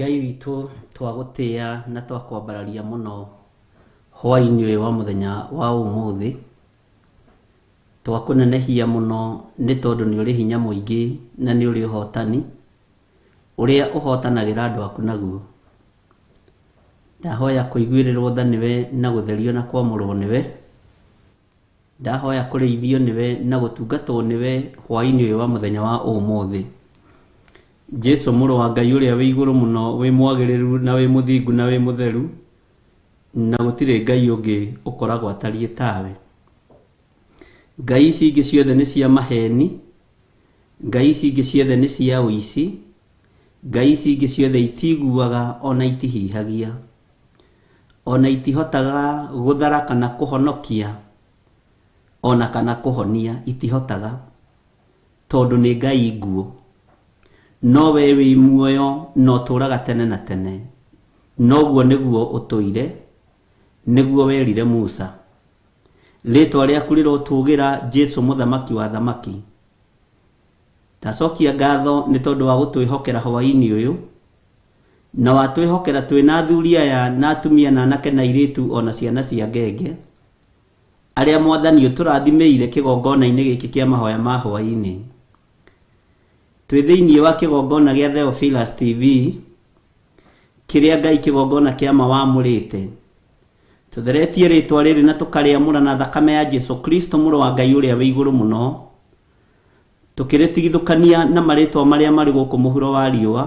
ngai witũ twagũtĩa na twakwambararia mũno hwainĩ ũyũ wa mũthenya wa ũmũthĩ twakũnenehia mũno nĩ tondũ nĩ ũrĩ hinya mũingĩ na nĩ ũrĩ ũhotani Ũrĩa ũhootanagĩra andũ aku naguo. Ndahoya kũiguĩrĩrwo tha nĩwe na gũtherio na kwamũrwo nĩwe. Ndahoya kũrĩithio nĩwe na gũtungatwo nĩwe hwaĩ-inĩ ũyũ wa mũthenya wa ũmũthĩ. Jesu mũrũ wa Ngai ũrĩa wĩ igũrũ mũno, wĩ mwagĩrĩru na wĩ mũthingu na wĩ mũtheru, na gũtirĩ Ngai ũngĩ ũkoragwo atariĩ tawe. Ngai ici ingĩ ciothe nĩ cia maheni. Ngai ici ingĩ ciothe nĩ cia ũici, ngai ici ingĩ ciothe itiiguaga o na itihihagia, o na itihotaga gũthara kana kũhonokia, o na kana kũhonia, itihotaga, tondũ nĩ ngai nguũ. No wee wĩ muoyo na ũtũũraga tene na tene, na ũguo nĩguo ũtũire, nĩguo werire Musa. Rĩtwa rĩaku rĩrotũũgĩra Jesu mũthamaki wa athamaki. Ndacokia ngatho nĩ tondũ wa gũtwĩhokera hwaĩ-inĩ ũyũ, na watwĩhokera twĩ na athuri aya na atumia na anake na airĩtu o na ciana cia ngenge, arĩa Mwathani ũtũrathimĩire kĩgongona-inĩ gĩkĩ kĩa mahoya ma hwaĩ-inĩ. Twĩ thĩinĩ wa kĩgongona gĩa Theophilus TV, kĩrĩa Ngai kĩgongona kĩa ma wamũrĩte. Tũtheretie rĩĩtwa rĩrĩ na tũkarĩamũra na thakame ya Jesu Kristo, Mũrũ wa Ngai Ũrĩa Wĩ Igũrũ Mũno, tũkĩrĩtigithũkania na marĩĩtwa marĩa marĩ gũkũ mũhuro wa riũa,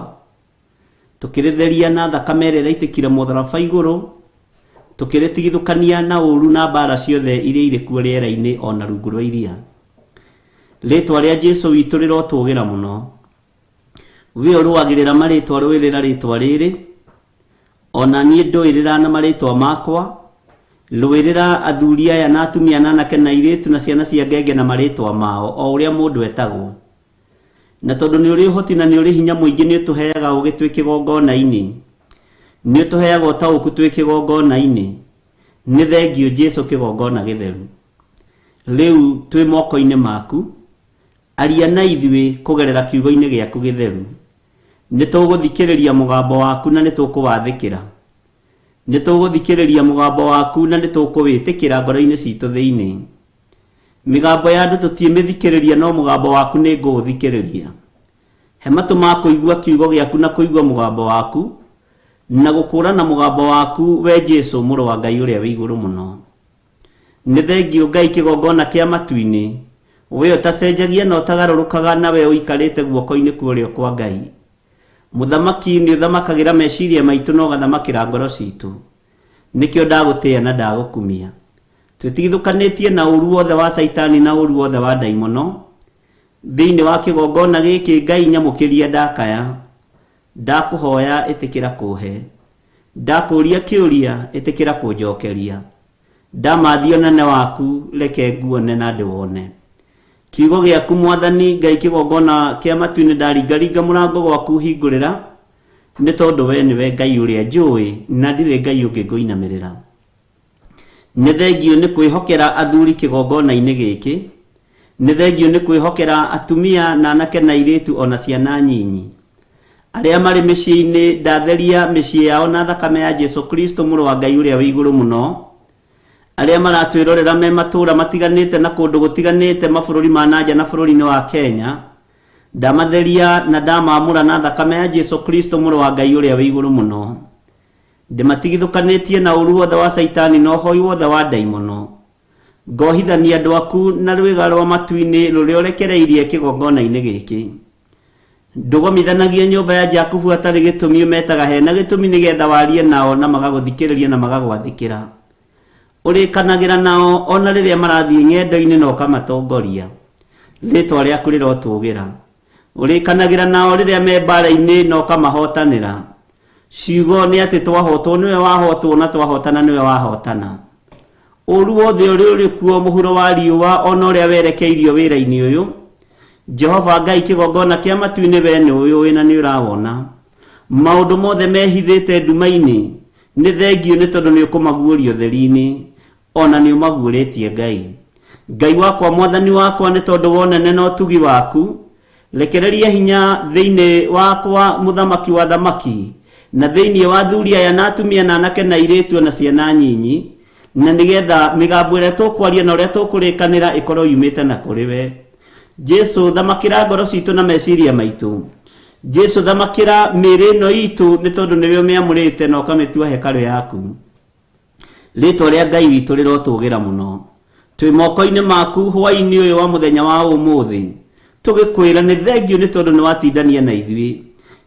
tũkĩrĩtheria na thakame ĩrĩa ĩraitĩkire mũtharaba igũrũ, tũkĩrĩtigithũkania na ũũru na mbaara ciothe iria irĩ kuo rĩera-inĩ o na rungu rwa iria. Rĩĩtwa rĩa Jesu witũ rĩrotũũgĩra mũno. We ũrũagĩrĩra marĩtwa rũĩrĩra rĩtwa rĩrĩ, o na niĩ ndũĩrĩra na marĩtwa makwa, rũĩrĩra athuri aya na atumia na anake na airĩtu na ciana cia ngenge na marĩtwa mao, o ũrĩa mũndũ etagwo. Na tondũ nĩ ũrĩ ũhoti na nĩ ũrĩ hinya mũingĩ nĩ ũtũheaga ũũgĩ twĩ kĩgongona-inĩ, nĩ ũtũheaga ũtaũku twĩ kĩgongona-inĩ, nĩ thengiũ Jesu kĩgongona gĩtheru. Rĩu twĩ moko-inĩ maku, Aria na ithuĩ kũgerera Kiugo-inĩ gĩaku gĩtheru. Nĩ tũgũthikĩrĩria mũgambo waku na nĩ tũkũwathĩkĩra. Nĩ tũgũthikĩrĩria mũgambo waku na nĩ tũkũwĩtĩkĩra ngoro-inĩ citũ thĩinĩ. Mĩgambo ya andũ tũtiĩmĩthikĩrĩria no mũgambo waku nĩ ngũũthikĩrĩria. He matũ ma kũigua Kiugo gĩaku na kũigua mũgambo waku, na gũkũũrana mũgambo waku, wee Jesu, Mũrũ wa Ngai Ũrĩa wĩ Igũrũ Mũno. Nĩ thengiũ Ngai kĩgongona kĩa matu-inĩ, Wee ũtacenjagia na ũtagarũrũkaga na Wee ũikarĩte guoko-inĩ kwa ũrĩo kwa Ngai. Mũthamaki, nĩ ũthamakagĩra meciria maitũ na ũgathamakĩra ngoro citũ. Nĩkĩo ndagũtĩĩa na ndagũkumia. Twĩtigithũkanĩtie na ũũru wothe wa Caitani na ũũru wothe wa ndaimono, thĩinĩ wa kĩgongona gĩkĩ, Ngai nyamũkĩria ndakaya, ndakũhoya ĩtĩkĩra kũũhe. Ndakũũria kĩũria, ĩtĩkĩra kũnjookeria. Ndamathia ũnene waku, reke nguone na ndĩwone. Kiugo gĩaku, Mwathani Ngai, kĩgongona kĩa matu-inĩ, ndaringaringa mũrango gwaku hingũrĩra, nĩ tondũ wee nĩwe Ngai ũrĩa njũũĩ, na ndirĩ Ngai ũngĩ ngũinamĩrĩra. Nĩ thengiũ nĩ kwĩhokera athuri kĩgongona-inĩ gĩkĩ. Nĩ thengiũ nĩ kwĩhokera atumia na anake na airĩtu o na ciana nyinyi. Arĩa marĩ mĩciĩ-inĩ ndatheria mĩciĩ yao na thakame ya Jesu Kristo Mũrũ wa Ngai Ũrĩa wĩ Igũrũ Mũno. Arĩa maratwĩrorera me matũũra matiganĩte na kũndũ gũtiganĩte mabũrũri ma na nja na bũrũri-inĩ wa Kenya, ndamatheria na ndamamũra na thakame ya Jesu Kristo Mũrũ wa Ngai Ũrĩa wĩ Igũrũ Mũno. Ndĩmatigithũkanĩtie na ũũru wothe wa Shaitani na ũhoi wothe wa ndaimono. Ngohithania andũ aku na rwĩga rwa matu-inĩ rũrĩa ũrekereirie kĩgongona-inĩ gĩkĩ. Ndũgomithanagie nyũmba ya Jakubu hatarĩ gĩtũmi ũmetaga he na gĩtũmi nĩ getha warie nao na magagũthikĩrĩria na magagwathĩkĩra. Ũrĩkanagĩra nao o na rĩrĩa marathiĩ ng'endo-inĩ na ũkamatongoria. Rĩĩtwa rĩaku rĩrotũũgĩra. Ũrĩkanagĩra nao rĩrĩa me mbaara-inĩ na ũkamahootanĩra. Ciugo nĩ atĩ twahootwo nĩwe wahootwo na twahootana nĩwe wahootana. Ũũru wothe ũrĩa ũrĩ kuo mũhuro wa riũa o na ũrĩa werekeirio wĩra-inĩ ũyũ, Jehova Ngai kĩgongona kĩa matu-inĩ we nĩ ũĩ ũĩ na nĩ ũrawona. Maũndũ mothe mehithĩte nduma-inĩ nĩ thengiũ nĩ tondũ nĩ ũkũmaguũria ũtheri-inĩ. O na nĩũmaguũrĩtie Ngai. Ngai wakwa, Mwathani wakwa, nĩ tondũ wa ũnene na ũtugi waku, rekereria hinya thĩinĩ wakwa mũthamaki wa athamaki, na thĩinĩ wa athuri aya na atumia na anake na airĩtu o na ciana nyinyi, na nĩ getha mĩgambo ĩrĩa tũkwaria na ũrĩa tũkũrĩkanĩra ĩkorwo yumĩte na kũrĩ we. Jesu, thamakĩra ngoro citũ na meciria maitũ. Jesu, thamakĩra mĩĩrĩ ĩno itũ, nĩ tondũ nĩwe ũmĩamũrĩte na ũkamĩtua hekarũ yaku. Rĩtwa rĩa Ngai witũ rĩrotũũgĩra mũno. Twĩ moko-inĩ maku hwaĩ-inĩ ũyũ wa mũthenya wa ũmũthĩ, tũgĩkwĩra nĩ thengiũ nĩ tondũ nĩwatindania na ithuĩ.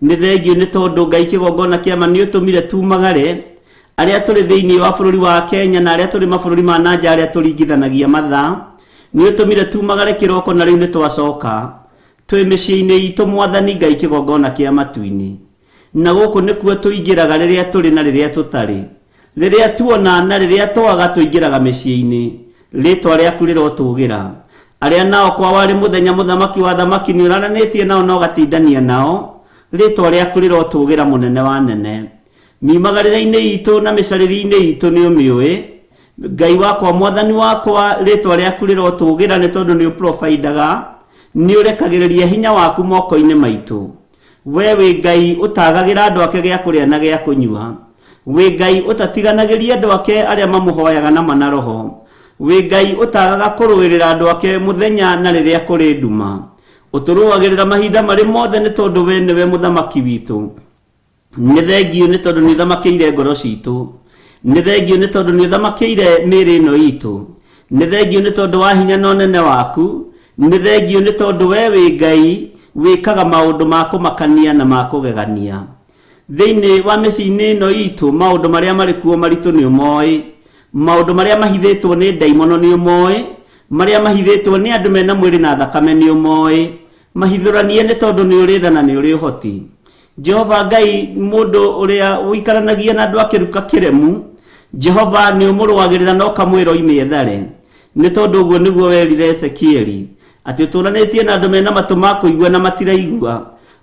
Nĩ thengiũ nĩ tondũ Ngai kĩgongona kĩa ma nĩũtũmire tumagare, arĩa tũrĩ thĩinĩ wa bũrũri wa Kenya na arĩa tũrĩ mabũrũri ma na nja arĩa tũringithanagia mathaa. Nĩũtũmire tumagare kĩroko na rĩu nĩtwacoka twĩ mĩciĩ-inĩ itũ Mwathani Ngai kĩgongona kĩa matu-inĩ. Na gũkũ nĩkuo tũingĩraga rĩrĩa tũrĩ na rĩrĩa tũtarĩ. Rĩrĩa tuona na rĩrĩa twaga tũingĩraga mĩciĩ-inĩ. Rĩtwa rĩaku rĩrotũũgĩra. Arĩa nao kwao arĩ mũthenya mũthamaki wa athamaki nĩũrananĩtie nao na ũgatindania nao, rĩtwa rĩaku rĩrotũũgĩra mũnene wa anene. Miumagarĩre-inĩ itũ na mĩcarĩrie-inĩ itũ nĩũmĩũĩ. Ngai wakwa, Mwathani wakwa, rĩtwa rĩaku rĩrotũũgĩra nĩ tondũ nĩũprofaindaga, nĩũrekagĩrĩria hinya waku moko-inĩ maitũ. we wĩ ngai ũtagagĩra andũ ake gĩa kũrĩa na gĩa kũnyua wĩ ngai ũtatiganagĩria andũ ake arĩa mamũhoyaga na mana roho wĩ ngai ũtagaga kũrũĩrĩra andũ ake mũthenya na rĩrĩa kũrĩ nduma ũtũrũagĩrĩra mahinda marĩ mothe nĩ tondũ we nĩwe mũthamaki witũ nĩ thengiũ nĩ tondũ nĩ thamakĩire ngoro citũ nĩ thengiũ nĩ tondũ nĩ thamakĩire mĩĩrĩ ĩno itũ nĩ thengiũ nĩ tondũ wa hinya na ũnene waku nĩ thengiũ nĩ tondũ we wĩ ngai wĩkaga maũndũ ma kũmakania na ma kũgegania thĩinĩ wa mĩciĩ-inĩ ĩno itũ maũndũ marĩa marĩ kuo maritũ nĩ ũmoĩ maũndũ marĩa mahithĩtwo nĩ ndaimono nĩ ũmoĩ marĩa mahithĩtwo nĩ andũ mena mwĩrĩ na thakame nĩ ũmoĩ mahithũranie nĩ tondũ nĩ ũrĩ tha na nĩ ũrĩ ũhoti jehova ngai mũndũ ũrĩa ũikaranagia na andũ akĩruka kĩremu jehova nĩ ũmũrũagĩrĩra na ũkamwĩra oime ethare nĩ tondũ ũguo nĩguo werire ezekieli atĩ ũtũũranĩtie na andũ mena matũ ma kũigua na matiraigua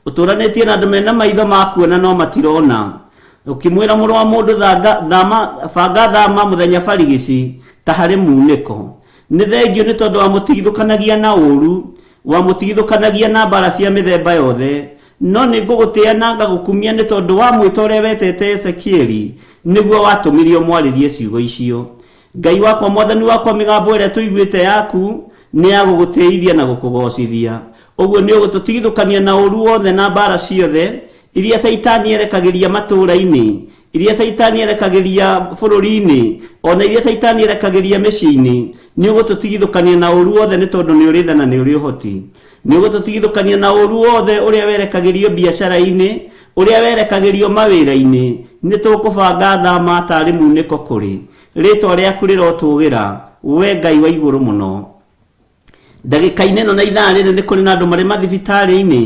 ũtũũranĩtie na andũ mena maitho ma kuona no matirona ũkĩmwĩra mũrũ wa mũndũ thanga- thama- banga thama mũthenya barigici ta harĩ muunĩko nĩ thengio nĩ tondũ wamũtigithũkanagia na ũũru wamũtigithũkanagia na mbara cia mĩthemba yothe no nĩ ngũgũtĩa na ngagũkumia nĩ tondũ wa mwĩta ũrĩa wetete Ezekieli nĩguo watũmirio mwarĩrie ciugo icio. Ngai wakwa mwathani wakwa mĩgambo ĩrĩa tũiguĩte yaku nĩ ya gũgũtĩithia na gũkũgocithia. Ũguo nĩ ũgũtũtigithũkania na ũũru wothe na mbaara ciothe iria Caitani erekagĩria matũũra-inĩ, iria Caitani erekagĩria bũrũri-inĩ, o na iria Caitani erekagĩria mĩciĩ-inĩ. Nĩ ũgũtũtigithũkania na ũũru wothe nĩ tondũ nĩ ũrĩ tha na nĩ ũrĩ ũhoti. Nĩ ũgũtũtigithũkania na ũũru wothe ũrĩa werekagĩrio biacara-inĩ, ũrĩa werekagĩrio mawĩra-inĩ, nĩ tũkũbanga tha ma taarĩ muunĩko kũrĩ. Rĩĩtwa rĩaku rĩrotũũgĩra, wee Ngai wa igũrũ mũno. Ndagĩka-inĩ ĩno na ithaa rĩrĩ nĩ kũrĩ na andũ marĩ mathibitarĩ-inĩ,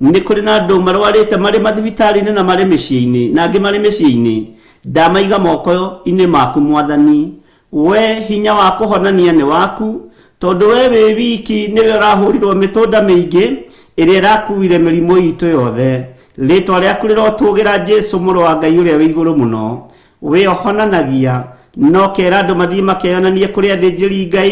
nĩ kũrĩ na andũ marwarĩte marĩ mathibitarĩ-inĩ na marĩ mĩciĩ-inĩ, na angĩ marĩ mĩciĩ-inĩ. Ndamaiga moko-inĩ maku, Mwathani, Wee hinya wa kũhonania nĩ waku, tondũ wee wĩ wiki nĩwe ũrahũrirwo mĩtũnda mĩingĩ ĩrĩa ĩrakuire mĩrimũ itũ yothe. Rĩtwa rĩaku rĩrotũũgĩra Jesu mũrũ wa Ngai ũrĩa wĩ igũrũ mũno. Wee ũhonanagia, na ũkera andũ mathiĩ makeyonanie kũrĩ athĩnjĩri Ngai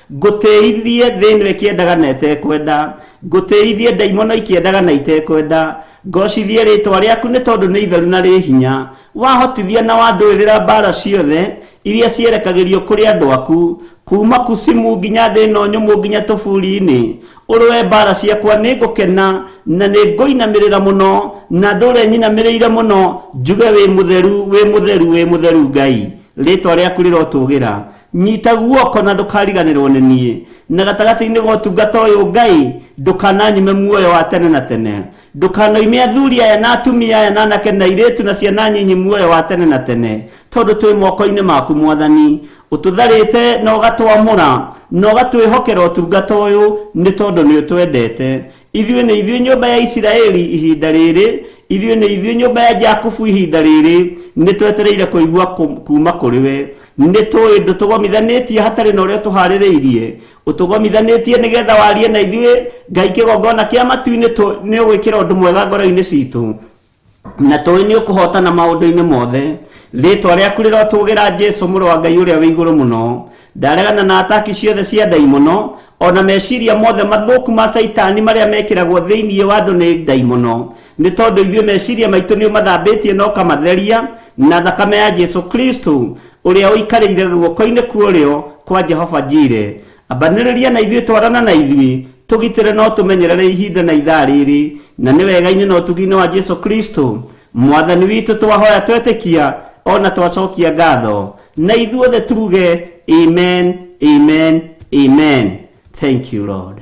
ngũtĩithie thĩ ĩno ĩkĩendaga na ĩtekwenda ngũtĩithie ndaimono ikĩendaga na itekwenda ngocithie rĩtwa rĩaku nĩ tondũ nĩ itheru na rĩ hinya wahotithia na wandũĩrĩra mbara ciothe iria cierekagĩrio kũrĩ andũ aku kuma kusimu nginya thĩ ĩno nyũmũ nginya tũburi-inĩ ũrũe mbara ciakwa nĩ ngũkena na nĩ ngũinamĩrĩra mũno na ndũre nyinamĩrĩire mũno njuge wĩ mũtheru wĩ mũtheru wĩ mũtheru ngai rĩtwa rĩaku rĩrotũgĩra nyita guoko na ndũkariganĩrwo nĩ niĩ na gatagatĩ-inĩ ga ũtungata ũyũ ngai ndũkananyime muoyo wa tene na tene ndũkanoime athuri aya na atumia aya na anake na airĩtu na ciana nyinyi muoyo wa tene na tene tondũ twĩ moko-inĩ maku mwathani ũtũtharĩte na ũgatwamũra na ũgatwĩhokera ũtungata ũyũ nĩ tondũ nĩ ũtwendete ithuĩ nĩ ithuĩ nyũmba ya isiraeli ihinda rĩrĩ ithuĩ nĩ ithuĩ nyũmba ya jakubu ihinda rĩrĩ nĩ twetereire kũigua kũ- kuuma kũrĩ we nĩ tũĩ ndũtũgomithanĩtie hatarĩ na ũrĩa tũharĩrĩirie ũtũgomithanĩtie nĩgetha warie na ithuĩ ngai kĩgongona kĩa matu-inĩ tũ- nĩ ũgwĩkĩra ũndũ mwega ngoro-inĩ citũ na tũĩ nĩ ũkũhotana maũndũ-inĩ mothe rĩtwa rĩaku rĩrotũgĩra jesu mũrũ wa ngai ũrĩa wĩ igũrũ mũno ndaregana na ataki ciothe cia ndaimono ona meciria mothe mathũku ma caitani marĩa mekĩragwo thĩinĩ wa andũ nĩ ndaimono nĩ tondũ ithuĩ meciria maitũ nĩ ũmathambĩtie na ũkamatheria na thakame ya jesu kristo ũrĩa ũikarĩire guoko-inĩ kuorĩo kwa jehova njire Ambanĩrĩria na ithuĩ, twarana na ithuĩ, tũgitĩre no tũmenyerere ihinda na ithaa rĩrĩ, na nĩ wega-inĩ na ũtugi-inĩ wa Jesu Kristo, Mwathani witũ, twahoya twetĩkia, o na twacokia ngatho. Na ithuothe tuge, Amen, Amen, Amen. Thank you, Lord.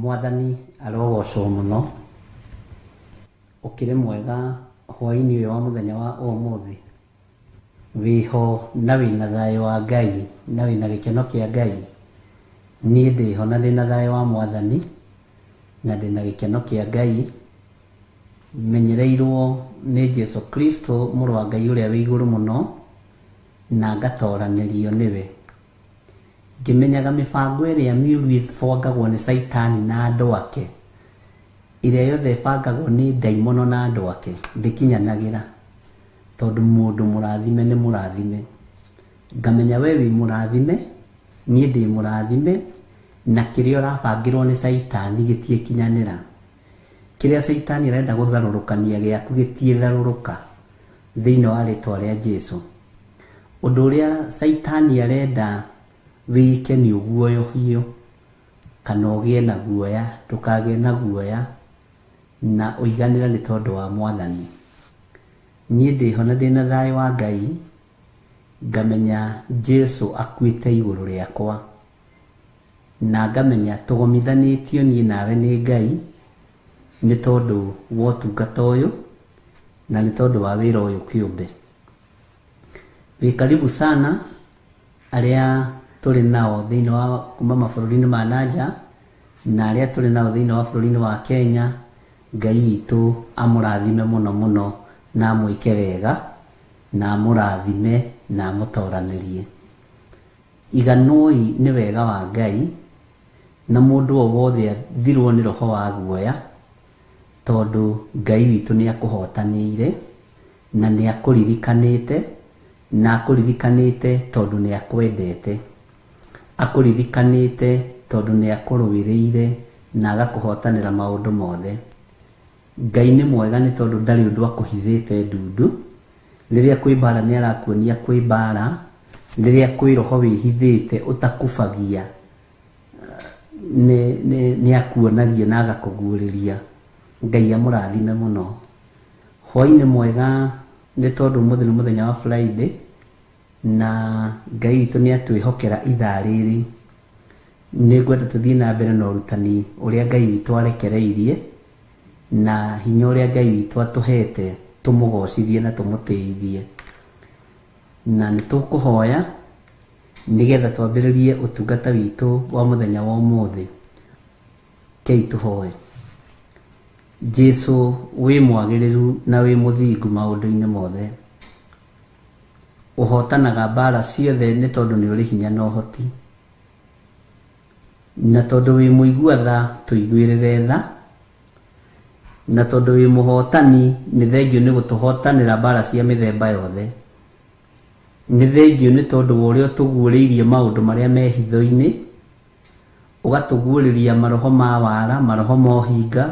mwathani arogocwo mũno ũkĩrĩ mwega hwaĩ-inĩ ũyũ wa mũthenya wa ũmũthĩ Wĩho na wĩna thayũ wa Ngai na wĩna gĩkeno kĩa Ngai? Niĩ ndĩho na ndĩna thayũ wa Mwathani na ndĩna gĩkeno kĩa Ngai, menyereirwo nĩ Jesu Kristo Mũrũ wa Ngai Ũrĩa wĩ Igũrũ Mũno na ngatooranĩrio nĩwe. Ngĩmenyaga mĩbango ĩrĩa mĩũru ĩbangagwo nĩ Caitani na andũ ake, ĩrĩa yothe ĩbangagwo nĩ ndaimono na andũ ake, ndĩkinyanagĩra, tondũ mũndũ mũrathime nĩ mũrathime. Ngamenya we wĩ mũrathime, niĩ ndĩ mũrathime, na kĩrĩa ũrabangĩrwo nĩ Caitani gĩtiĩkinyanĩra. Kĩrĩa Caitani arenda gũtharũrũkania gĩaku gĩtiĩtharũrũka thĩinĩ wa rĩtwa rĩa Jesu. Ũndũ ũrĩa Caitani arenda wĩke nĩ ũguoyohio kana ũgĩe na guoya, ndũkagĩe na guoya na ũiganĩra nĩ tondũ wa Mwathani. Niĩ ndĩho na ndĩna thayũ wa Ngai, ngamenya Jesu akuĩte igũrũ rĩakwa. na ngamenya tũgomithanĩtio niĩ nawe nĩ Ngai nĩ tondũ wa ũtungata ũyũ na nĩ tondũ wa wĩra ũyũ kĩũmbe. Wĩ karibu sana arĩa tũrĩ nao thĩinĩ wa kuma mabũrũri-inĩ ma nanja na arĩa tũrĩ nao thĩinĩ wa bũrũri-inĩ wa Kenya. Ngai witũ amũrathime mũno mũno na amwĩke wega na amũrathime na amũtoranĩrie. Iganũoi nĩ wega wa Ngai, na mũndũ o wothe athirwo nĩ roho wa guoya, tondũ Ngai witũ nĩakũhootanĩire, na nĩakũririkanĩte, na akũririkanĩte tondũ nĩakwendete. Akũririkanĩte tondũ nĩakũrũĩrĩire na agakũhootanĩra maũndũ mothe. Ngai nĩ mwega nĩ tondũ ndarĩ ũndũ akũhithĩte ndundu, rĩrĩa kwĩ mbaara nĩ arakuonia kwĩ mbaara, rĩrĩa kwĩ roho wĩhithĩte ũtakubagia nĩ akuonagia na agakũguũrĩria. Ngai amũrathime mũno. Hwaĩ nĩ mwega nĩ tondũ ũmũthĩ nĩ mũthenya wa Friday na Ngai witũ nĩ atwĩhokera ithaa rĩrĩ Nĩ ngwenda tũthiĩ na mbere na ũrutani ũrĩa Ngai witũ arekereirie na hinya ũrĩa Ngai witũ atũhete tũmũgocithie na tũmũtĩithie. Na nĩ tũkũhoya nĩgetha twambĩrĩrie ũtungata witũ wa mũthenya wa ũmũthĩ. Kei tũhoe. Jesu wĩ mwagĩrĩru na wĩ mũthingu maũndũ-inĩ mothe. Ũhootanaga mbaara ciothe nĩ tondũ nĩ ũrĩ hinya na ũhoti. Na tondũ wĩ mũigua tha tũiguĩrĩre tha. Na tondũ wĩ mũhootani nĩ thengiũ nĩ gũtũhootanĩra mbaara cia mĩthemba yothe. Nĩ thengiũ nĩ tondũ wa ũrĩa ũtũguũrĩirie maũndũ marĩa me hitho-inĩ, ũgatũguũrĩria maroho ma waara, maroho ma ũhinga.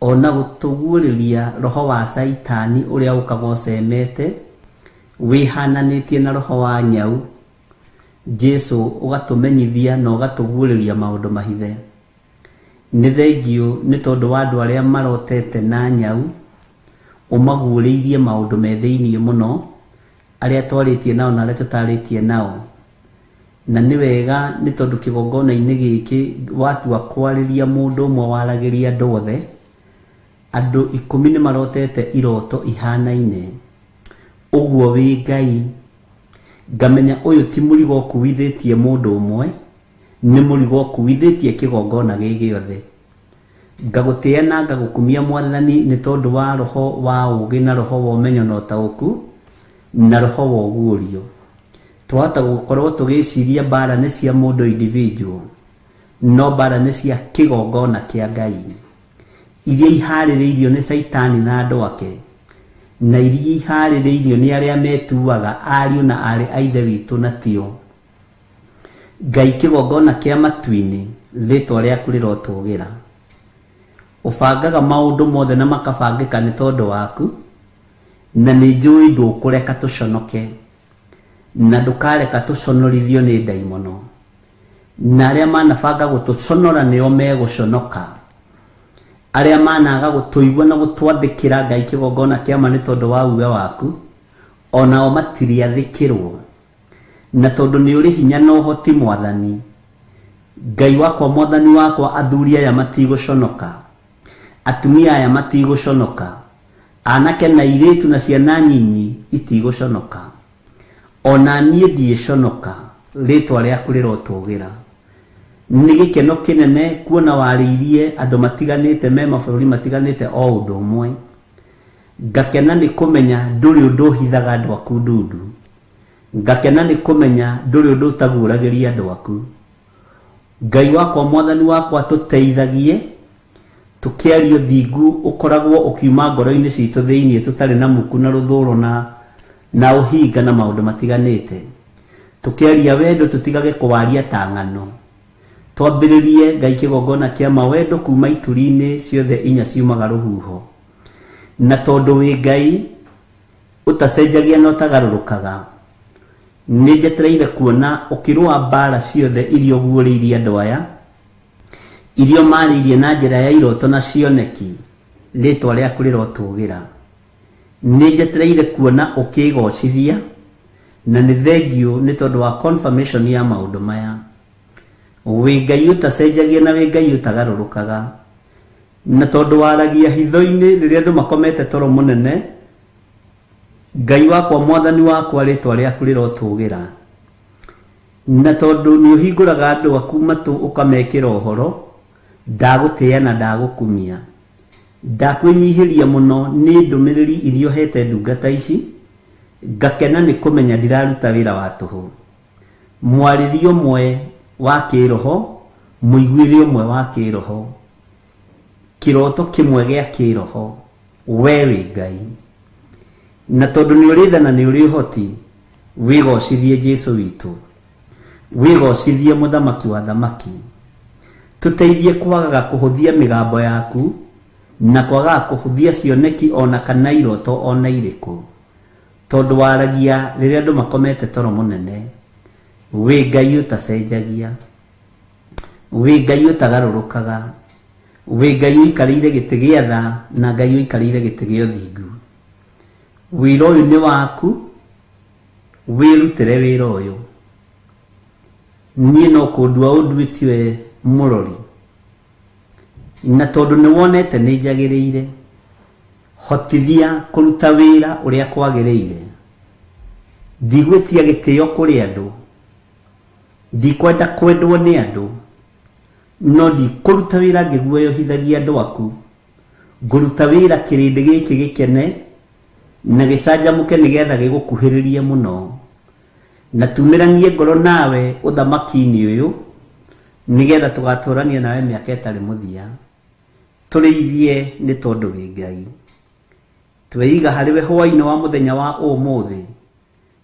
O na gũtũguũrĩria roho wa Caitani ũrĩa ũkaga ũcemete, wĩhananĩtie na roho wa nyau, Jesu ũgatũmenyithia na ũgatũguũrĩria maũndũ mahithe. Nĩ thengiũ nĩ tondũ wa andũ arĩa marotete na nyau, ũmaguũrĩirie maũndũ me thĩiniĩ mũno, arĩa twarĩtie nao na arĩa tũtarĩtie nao na nĩ wega nĩ tondũ kĩgongona-inĩ gĩkĩ watua kwarĩria mũndũ ũmwe waragĩria andũ othe andũ ikũmi nĩ marotete iroto ihanaine ũguo wĩ ngai ngamenya ũyũ ti mũrigo ũkuithĩtie mũndũ ũmwe nĩ mũrigo ũkuithĩtie kĩgongona gĩ gĩothe Ngagũtĩĩa na ngagũkumia Mwathani nĩ tondũ wa roho wa ũũgĩ na roho wa ũmenyo na ũtaũku na roho wa ũguũrio. Twahota gũkorwo tũgĩciria mbaara nĩ cia mũndũ individual, no mbaara nĩ cia kĩgongona kĩa Ngai, iria ihaarĩrĩirio nĩ Shaitani na andũ ake, na iria ihaarĩrĩirio nĩ arĩa metuaga ariũ na aarĩ a Ithe witũ na tio. Ngai kĩgongona kĩa matu-inĩ, rĩtwa rĩaku rĩrotũgĩra. Ũbangaga maũndũ mothe na makabangĩka nĩ tondũ waku, na nĩ njũĩ ndũkũreka tũconoke, na ndũkareka tũconorithio nĩ ndaimono. Na arĩa manabanga gũtũconora nĩo megũconoka. Arĩa managa gũtũigua na gũtwathĩkĩra, Ngai kĩgongona kĩa ma nĩ tondũ wa uge waku, o nao matirĩathĩkĩrwo. Na tondũ nĩ ũrĩ hinya na ũhoti, mwathani. Ngai wakwa, mwathani wakwa, athuri aya matigũconoka, atumia aya matigũconoka, aanake na airĩtu na ciana nyinyi itigũconoka. O na niĩ ndigĩconoka, rĩĩtwa rĩaku rĩrotũũgĩra. Nĩ gĩkeno kĩnene kuona warĩirie andũ matiganĩte me mabũrũri matiganĩte o ũndũ ũmwe. Ngakena nĩ kũmenya ndũrĩ ũndũ ũhithaga andũ aku ndundu. Ngakena nĩ kũmenya ndũrĩ ũndũ ũtaguũragĩria andũ aku. Ngai wakwa, Mwathani wakwa, tũteithagie, tũkĩarie ũthingu ũkoragwo ũkiuma ngoro-inĩ citũ thĩinĩ tũtarĩ na muku na rũthũũro na na ũhinga na maũndũ matiganĩte. Tũkĩaria wendo tũtigage kũwaria ta ng'ano. Twambĩrĩrie, Ngai, kĩgongona kĩa ma wendo kuuma ituri-inĩ ciothe inya ciumaga rũhuho. Na tondũ wĩ Ngai, Ũtacenjagia na ũtagarũrũkaga. Nĩnjetereire kuona ũkĩrũa mbaara ciothe iria ũguũrĩirie andũ aya, iria ũmaarĩirie na njĩra ya irooto na cioneki, rĩĩtwa rĩaku rĩrotũũgĩra. Nĩnjetereire kuona ũkĩĩgoocithia, na nĩ thengiũ nĩ tondũ wa confirmation ya maũndũ maya. Wĩ Ngai ũtacenjagia na wĩ Ngai ũtagarũrũkaga. Na tondũ waragia hitho-inĩ rĩrĩa andũ makomete toro mũnene, Ngai wakwa, mwathani wakwa, rĩĩtwa rĩaku rĩrotũũgĩra, na tondũ nĩũhingũraga andũ aku matũ ũkamekĩra ũhoro, ndagũtĩĩa na ndagũkumia. Ndakwĩnyiihĩria mũno nĩ ndũmĩrĩri iria ũheete ndungata ici, ngakena nĩ kũmenya ndiraruta wĩra wa tũhũ. Mwarĩrie ũmwe wa kĩĩroho, mũiguĩre ũmwe wa kĩĩroho. kĩroto kĩmwe gĩa kĩroho we wĩ ngai na tondũ nĩ ũrĩ tha na nĩ ũrĩ ũhoti wĩgocithie jesu witũ wĩgocithie mũthamaki wa thamaki tũteithie kwagaga kũhũthia mĩgambo yaku na kwagaga kũhũthia cioneki ona kana iroto ona irĩkũ tondũ waragia rĩrĩa andũ makomete toro mũnene wĩ ngai ũtacenjagia Wĩ Ngai ũtagarũrũkaga, wĩ Ngai ũikarĩire gĩtĩ gĩa tha, na Ngai ũikarĩire gĩtĩ gĩa ũthingu. Wĩra ũyũ nĩ waku, wĩrutĩre wĩra ũyũ. Niĩ no kũndua ũnduĩtie we mũrori, na tondũ nĩ wonete nĩ njagĩrĩire, hotithia kũruta wĩra ũrĩa kwagĩrĩire. Ndigwĩtia gĩtĩo kũrĩ andũ, Ndikwenda kwendwo nĩ andũ, no ndikũruta wĩra ngĩguoyohithagia andũ aku. Ngũruta wĩra kĩrĩndĩ gĩkĩ gĩkene na gĩcanjamũke nĩgeetha gĩgũkuhĩrĩrie mũno. Na tuumĩranie ngoro nawe ũthamaki-inĩ ũyũ, nĩgeetha tũgaatũũrania nawe mĩaka ĩtarĩ mũthia. Tũrĩithie nĩ tondũ wĩ Ngai. Tweeiga harĩ we hwaĩ-inĩ wa mũthenya wa ũmũthĩ,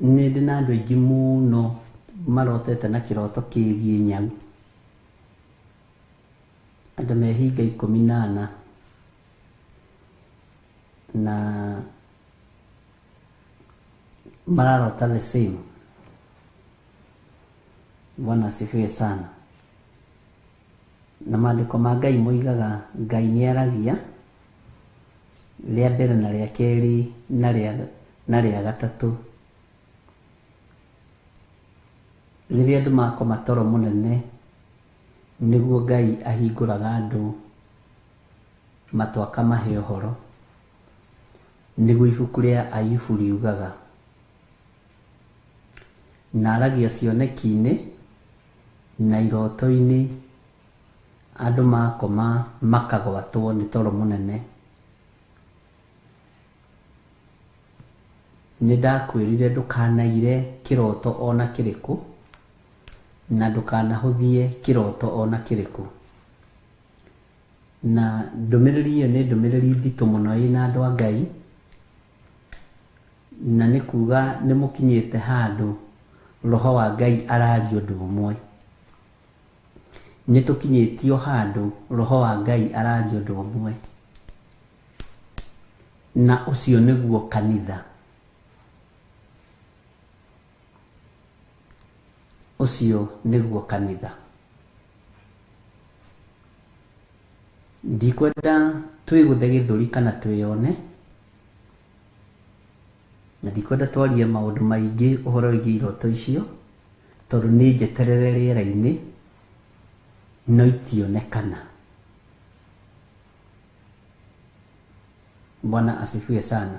Nĩ ndĩ na andũ aingĩ mũno marotete na kĩroto kĩgiĩ nyau. Andũ mehinga ikũmi na ana. Na mararota the same. Bwana asifiwe sana. Na Maandĩko ma Ngai moigaga Ngai nĩ aragia, rĩa mbere na rĩa kerĩ na rĩa na rĩa gatatũ. Rĩrĩa andũ makoma toro mũnene, nĩguo Ngai ahingũraga andũ matũ akamahe ũhoro. Nĩguo ibuku rĩa Ayubu riugaga. Na aragia cioneki-inĩ Na irooto-inĩ andũ makoma makagwatwo nĩ toro mũnene. Nĩndakwĩrire ndũkanaire kĩrooto o na kĩrĩkũ, na ndũkanahũthie kĩrooto o na kĩrĩkũ. Na ndũmĩrĩri ĩyo nĩ ndũmĩrĩri nditũ mũno ĩna andũ a Ngai. Na nĩ kuuga nĩ mũkinyĩte handũ Roho wa Ngai araria ũndũ ũmwe. Nĩ tũkinyĩtio handũ Roho wa Ngai araria ũndũ ũmwe. Na ũcio nĩguo kanitha. Ũcio nĩguo kanitha. Ndikwenda twĩgũthe gĩthũri kana twĩyone, na ndikwenda twarie maũndũ maingĩ ũhoro wĩgiĩ iroto icio, tondũ nĩ njeterere rĩera-inĩ, no itionekana. Bwana asifiwe sana.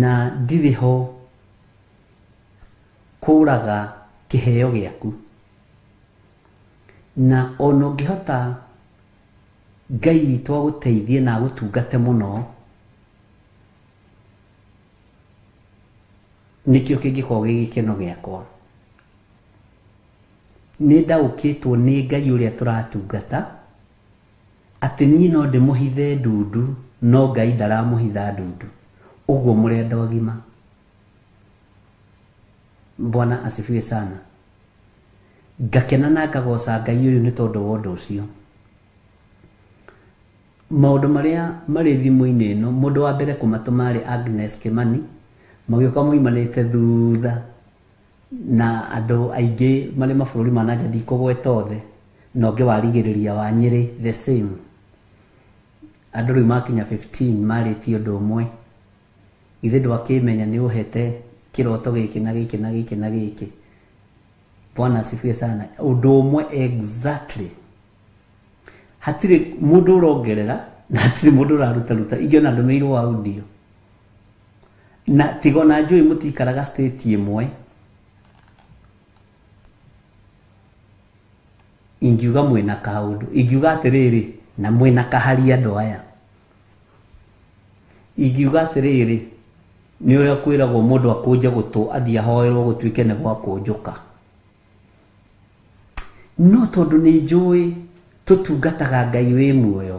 Na ndirĩ ho kũũraga kĩheo gĩaku. Na o na ũngĩhota Ngai witũ agũteithie na agũtungate mũno, nĩkĩo kĩngĩkorwo gĩ gĩkeno gĩakwa. Nĩ ndaũkĩtwo nĩ Ngai ũrĩa tũratungata Atĩ niĩ no ndĩmũhithe ndundu no Ngai ndaramũhitha ndundu. Ũguo mũrenda ũgima. Bwana asifiwe sana. Ngakena na ngagoca Ngai ũyũ nĩ tondũ wa ũndũ ũcio. Maũndũ marĩa marĩ thimũ-inĩ ĩno, mũndũ wa mbere kũmatũma arĩ Agnes Kĩmani, magĩũka maumanĩte thutha Na andũ aingĩ marĩ mabũrũri ma nanja ndikũgweta othe na ũngĩ warigĩrĩria wa Nyĩrĩ the same. Andũ rĩu makinya 15 marĩtie ũndũ ũmwe. Githĩ ndwakĩmenya nĩ ũhete kĩroto gĩkĩ na gĩkĩ na gĩkĩ na gĩkĩ. Bwana asifiwe sana. Ũndũ ũmwe exactly. Hatirĩ mũndũ ũrongerera na hatirĩ mũndũ ũraruta ruta. Ingĩona ndũmĩirwo audio. Na tiga ona njũĩ mũtikaraga state ĩmwe. Ingiuga mwĩna kaũndũ. Ingiuga atĩrĩrĩ, na mwĩna kahari andũ aya. Ingiuga atĩrĩrĩ, nĩ ũrĩa kwĩragwo mũndũ akũnje gũtũ athiĩ ahoerwo gũtuĩke nĩ gwa kũnjũka. No tondũ nĩ njũĩ tũtungataga Ngai wĩ muoyo,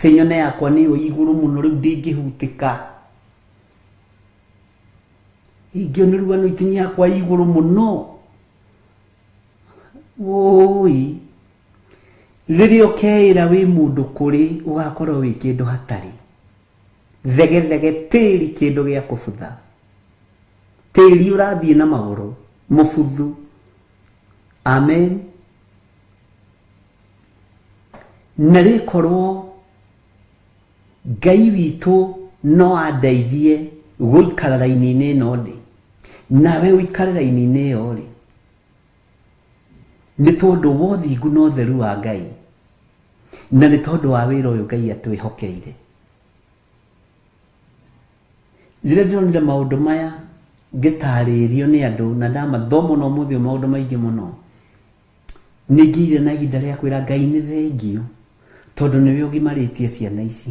Kĩnyone yakwa nĩ yo ĩ igũrũ mũno rĩu ndĩngĩhutĩka. Ingĩ nĩ rũa itinĩ yakwa ĩ igũrũ mũno. Wũũi. Rĩrĩa ũkeĩra wĩ mũndũ kũrĩ ũgakorwo wĩ kĩndũ hatarĩ. Thegethege tĩri kĩndũ gĩa kũbutha. Tĩri ũrathiĩ na magũrũ mũbuthu. Amen. na rĩkorwo ngai witũ no andeithie gũikara raini-inĩ ĩno ndĩ nawe ũikare raini-inĩ ĩyo rĩ nĩ tondũ wa ũthingu na ũtheru wa ngai na nĩ tondũ wa wĩra ũyũ ngai atwĩhokeire rĩrĩa ndĩronire maũndũ maya ngĩtarĩrio nĩ andũ na ndamathoma na ũmũthĩ maũndũ maingĩ mũno Nĩ ngĩire na ihinda rĩa kwĩra Ngai nĩ thengio tondũ nĩwe ũgimarĩtie ciana ici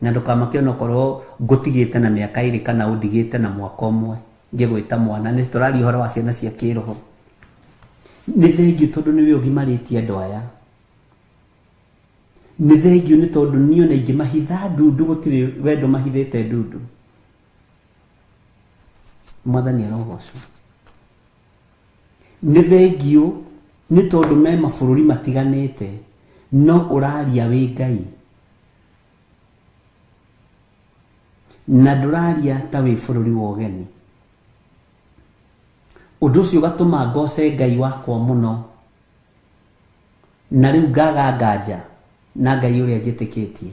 na ndũkamake onokorwo ngũtigĩte na mĩaka ĩrĩ kana ũndigĩte na mwaka ũmwe ngĩgwĩta mwana nĩ tũraria ũhoro wa ciana cia kĩroho nĩ thengio tondũ nĩwe ũgimarĩtie andũ aya nĩ thengio nĩ tondũ niĩ ona ingĩmahitha ndundu gũtirĩ wendo mahithĩte ndundu mwathani arogocwo Nĩ thengiũ nĩ tondũ me mabũrũri matiganĩte no ũraria wĩ Ngai na ndũraria ta wĩ bũrũri wa ũgeni. Ũndũ ũcio ũgatũma ngoce Ngai wakwa mũno na rĩu ngaga nganja na Ngai ũrĩa njĩtĩkĩtie.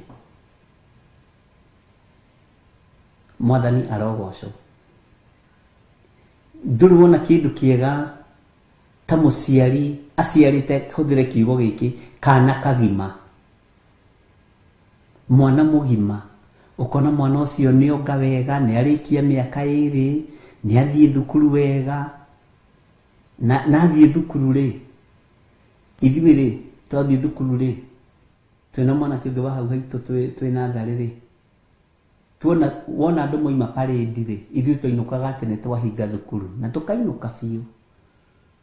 Mwathani arogocwo. Ndũrĩ wona kĩndũ kĩega ta mũciari aciarĩte, hũthĩre kiugo gĩkĩ, kana kagima, mwana mũgima, ũkona mwana ũcio nĩ onga wega, nĩ arĩkia mĩaka ĩrĩ, nĩ athiĩ thukuru wega, na athiĩ thukuru rĩ, ithuĩ rĩ, twathiĩ thukuru rĩ, twĩna mwanake ũngĩ wa hau haitũ twĩ natharĩ rĩ, Tuona, wona andũ moima parĩndi-rĩ, ithuĩ twainũkaga tene twahinga thukuru, na tũkainũka biũ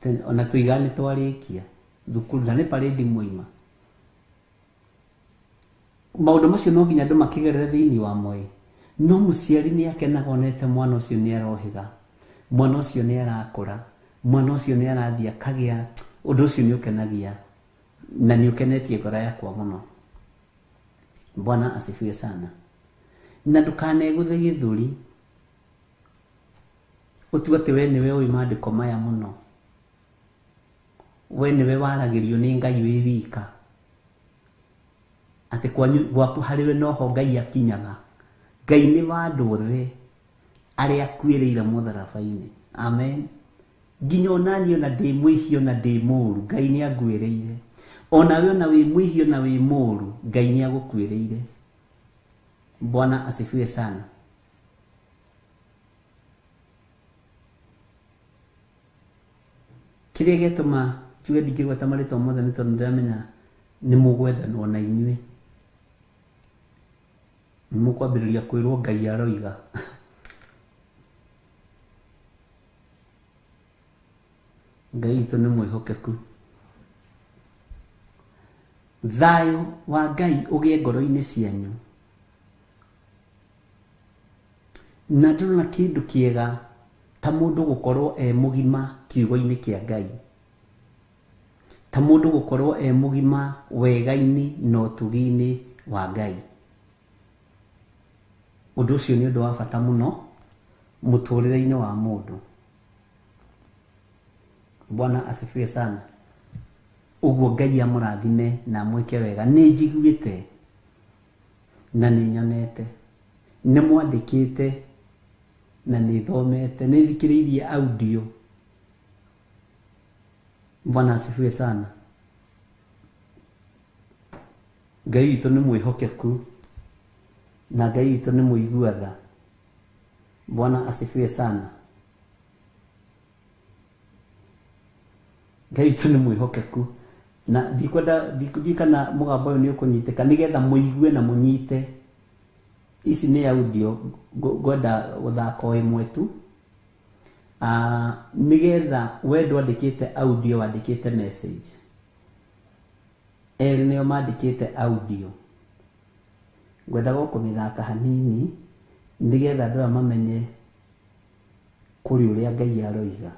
tene, o na tũigaga nĩ twarĩkia thukuru, na nĩ parĩndi mwaima. Maũndũ macio no nginya andũ makĩgerere thĩinĩ wamo-ĩ, no mũciari nĩ akenaga onete mwana ũcio nĩ arohĩga, mwana ũcio nĩ arakũra, mwana ũcio nĩ arathiĩ akagĩa, ũndũ ũcio nĩ ũkenagia na nĩ ũkenetie ngoro yakwa mũno. bwana asifiwe sana na ndũkanegũthe gĩthũri ũtue atĩ we nĩwe ũĩ maandĩko maya mũno we nĩwe waragĩrio nĩ ngai wĩ wika atĩ kwanyu gwaku harĩwe noho ngai akinyaga ngai nĩ wa andũ othe arĩa akuĩrĩire mũtharabainĩ. Amen. Nginya onani ona ndĩ mwĩhio na ndĩ mũru, Ngai nĩ anguĩrĩire. Onawe ona wĩ mwĩhio na wĩ mũru, Ngai nĩ agũkuĩrĩire. Bwana asifiwe sana. Kĩrĩa gĩatũma njuge ndingĩgweta marĩtwa mothe nĩ tondũ ndĩramenya nĩ mũgwethanwo na inyuĩ. Nĩmũkwambĩrĩria kwĩrwo Ngai aroiga. Ngai witũ nĩ mwĩhokeku. Thayũ wa Ngai ũgĩe ngoro-inĩ cianyu. Na ndĩrona kĩndũ kĩega ta mũndũ gũkorwo e mũgima kiugo-inĩ kĩa Ngai. Ta mũndũ gũkorwo e mũgima wega-inĩ na ũtugi-inĩ wa Ngai. Ũndũ ũcio nĩ ũndũ wa bata mũno mũtũrĩre-inĩ wa mũndũ. Bwana asifiwe sana. Ũguo Ngai amũrathime na amwĩke wega. Nĩ njiguĩte na nĩ nyonete, nĩ mwandĩkĩte na nĩ thomete, nĩ thikĩrĩirie audio Bwana asifiwe sana. Ngai witũ nĩ mwĩhokeku na Ngai witũ nĩ mũigua tha. Bwana asifiwe sana. Ngai witũ nĩ mwĩhokeku na ndikwenda ndikwenda kana mũgambo ũyũ nĩ ũkũnyitĩka nĩgetha mũigue na mũnyite. Ici nĩ audio ngwenda gũthaka o ĩmwe tu Ah, nĩgetha we ndwandĩkĩte audio wandĩkĩte message erĩ nĩo mandĩkĩte audio ngwendaga o kũmĩthaka hanini nĩgetha andũ aya mamenye kũrĩ ũrĩa ngai aroiga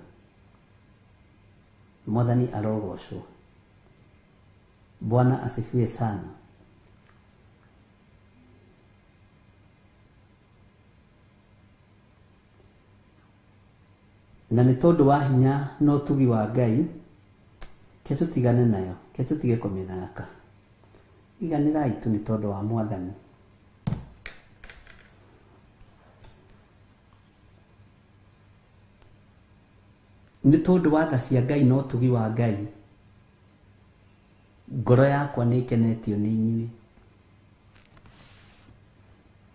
mwathani arogocwo bwana asifiwe sana Na nĩ tondũ wa hinya na ũtugi wa Ngai, ke tũtigane nayo, ke tũtige kũmĩthaka. Iganĩrai tu nĩ tondũ wa Mwathani. Nĩ tondũ wa tha cia Ngai na ũtugi wa Ngai, ngoro yakwa nĩ ĩkenetio nĩ inyuĩ.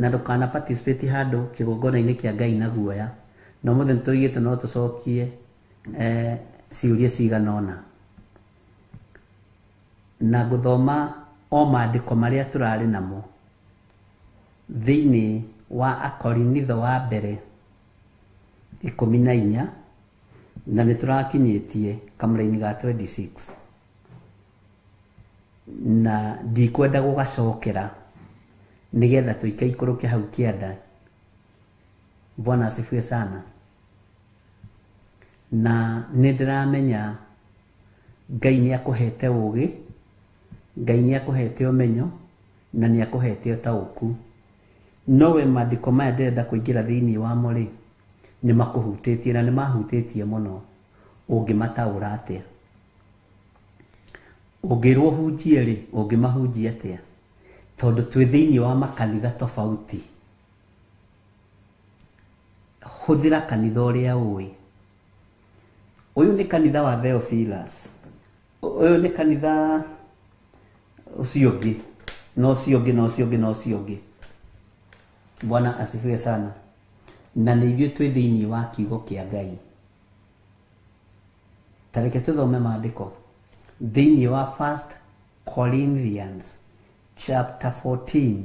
Na ndũkana participate handũ kĩgongona-inĩ kĩa Ngai na guoya. Na ũmũthĩ nĩ tũrigĩtwo no tũcokie eh, ciũria cigana ũna. Na ngũthoma o maandĩko marĩa tũrarĩ namo thĩinĩ wa Akorinitho wa mbere ikũmi na inya na nĩ tũrakinyĩtie kamũra-inĩ ga 26. na ndikwenda gũgacokera nigetha tuikaikũrũke hau kĩanda bwana asifiwe sana na nĩ ndĩramenya ngai nĩ akũhete ũgĩ ngai nĩ akũhete ũmenyo na nĩ akũhete ũtaũku nowe maandĩko maya ndĩrenda kũingĩra thĩinĩ wamo rĩ nĩ makũhutĩtie na nĩ mahutĩtie mũno ũngĩmataũra atĩa Ũngĩrwo ũhunjie rĩ, ũngĩmahunjia atĩa? Tondũ twĩ thĩinĩ wa makanitha tofauti. Hũthĩra kanitha ũrĩa ũĩ. Ũyũ nĩ kanitha wa Theophilus. Ũyũ nĩ kanitha ũcio ũngĩ, na ũcio ũngĩ, na ũcio ũngĩ, na ũcio ũngĩ. Bwana asifiwe sana. Na nĩ ithuĩ twĩ thĩinĩ wa kiugo kĩa Ngai. Ta reke tũthome maandĩko thĩinĩ wa 1 Corinthians chapter 14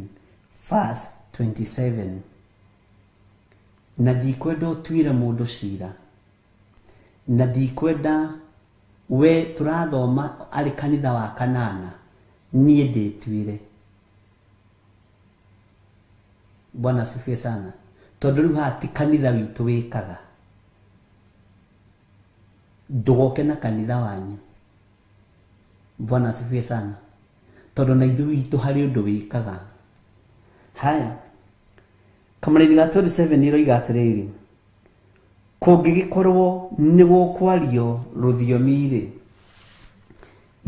verse 27 na ndikwenda ũtuire mũndũ cira na ndikwenda we tũrathoma arĩ kanitha wa kanana niĩ ndĩtuire bwana asifiwe sana tondå rä u haha ti kanitha witå wä kaga Ndũgoke na kanitha wanyu. Bwana asifiwe sana. Tondũ na ithuĩ witũ harĩ ũndũ wĩkaga. Haya. Kamũrĩri ga 27 ĩroiga atĩrĩrĩ, kũngĩgĩkorwo nĩ gũkwario rũthiomi-rĩ,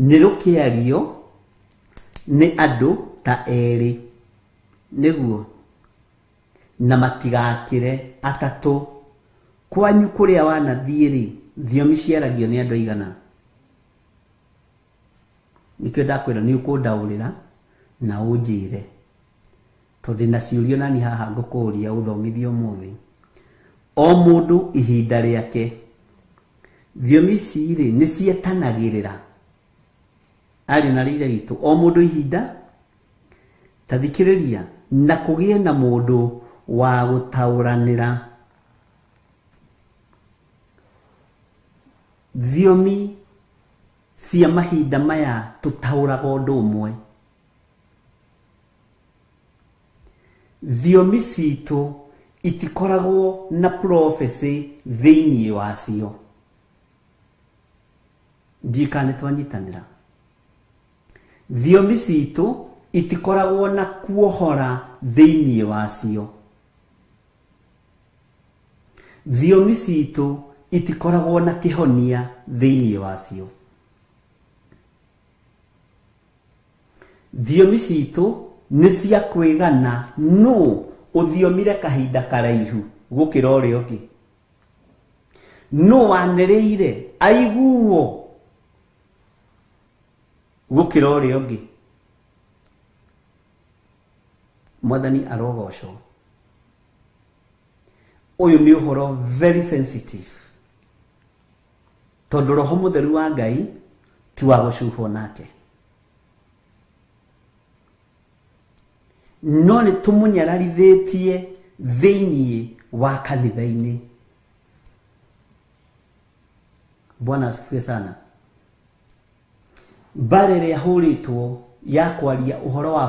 nĩ rũkĩario nĩ andũ ta erĩ. Nĩguo. na matigakĩre atatũ. Kwanyu kũrĩa wanathiĩ-rĩ, thiomi ciaragio nĩ andũ aigana? Nĩkĩo ndakwĩra nĩ ũkũndaũrĩra na ũnjĩre, tondũ ndĩ na ciũria nani haha ngũkũũria ũthomithie ũmũthĩ. O mũndũ ihinda rĩake, thiomi ici-rĩ nĩ cietanagĩrĩra, ariũ na aarĩ a Ithe witũ, o mũndũ ihinda. Ta thikĩrĩria, na kũgĩe na mũndũ wa gũtaũranĩra thiomi cia mahinda maya tũtaũraga ũndũ ũmwe. Thiomi citũ itikoragwo na prophecy thĩinĩ wacio. Ndiũĩ kana nĩ twanyitanĩra. Thiomi citũ itikoragwo na kuohora thĩinĩ wacio. Thiomi citũ itikoragwo na kĩhonia thĩinĩ wacio. Thiomi citũ nĩ cia kwĩgana nũ ũthiomire kahinda karaihu gũkĩra ũrĩa ũngĩ. Nũ wanĩrĩire aiguo. gũkĩra ũrĩa ũngĩ mwathani arogocwo ũyũ nĩ ũhoro very sensitive tondũ roho mũtheru wa ngai ti wa gũcuhwo nake no nĩ tũmũnyararithĩtie thĩinĩ wa kanitha-inĩ bwana asifiwe sana Mbaara ĩrĩa ĩhũrĩtwo ya kwaria ũhoro wa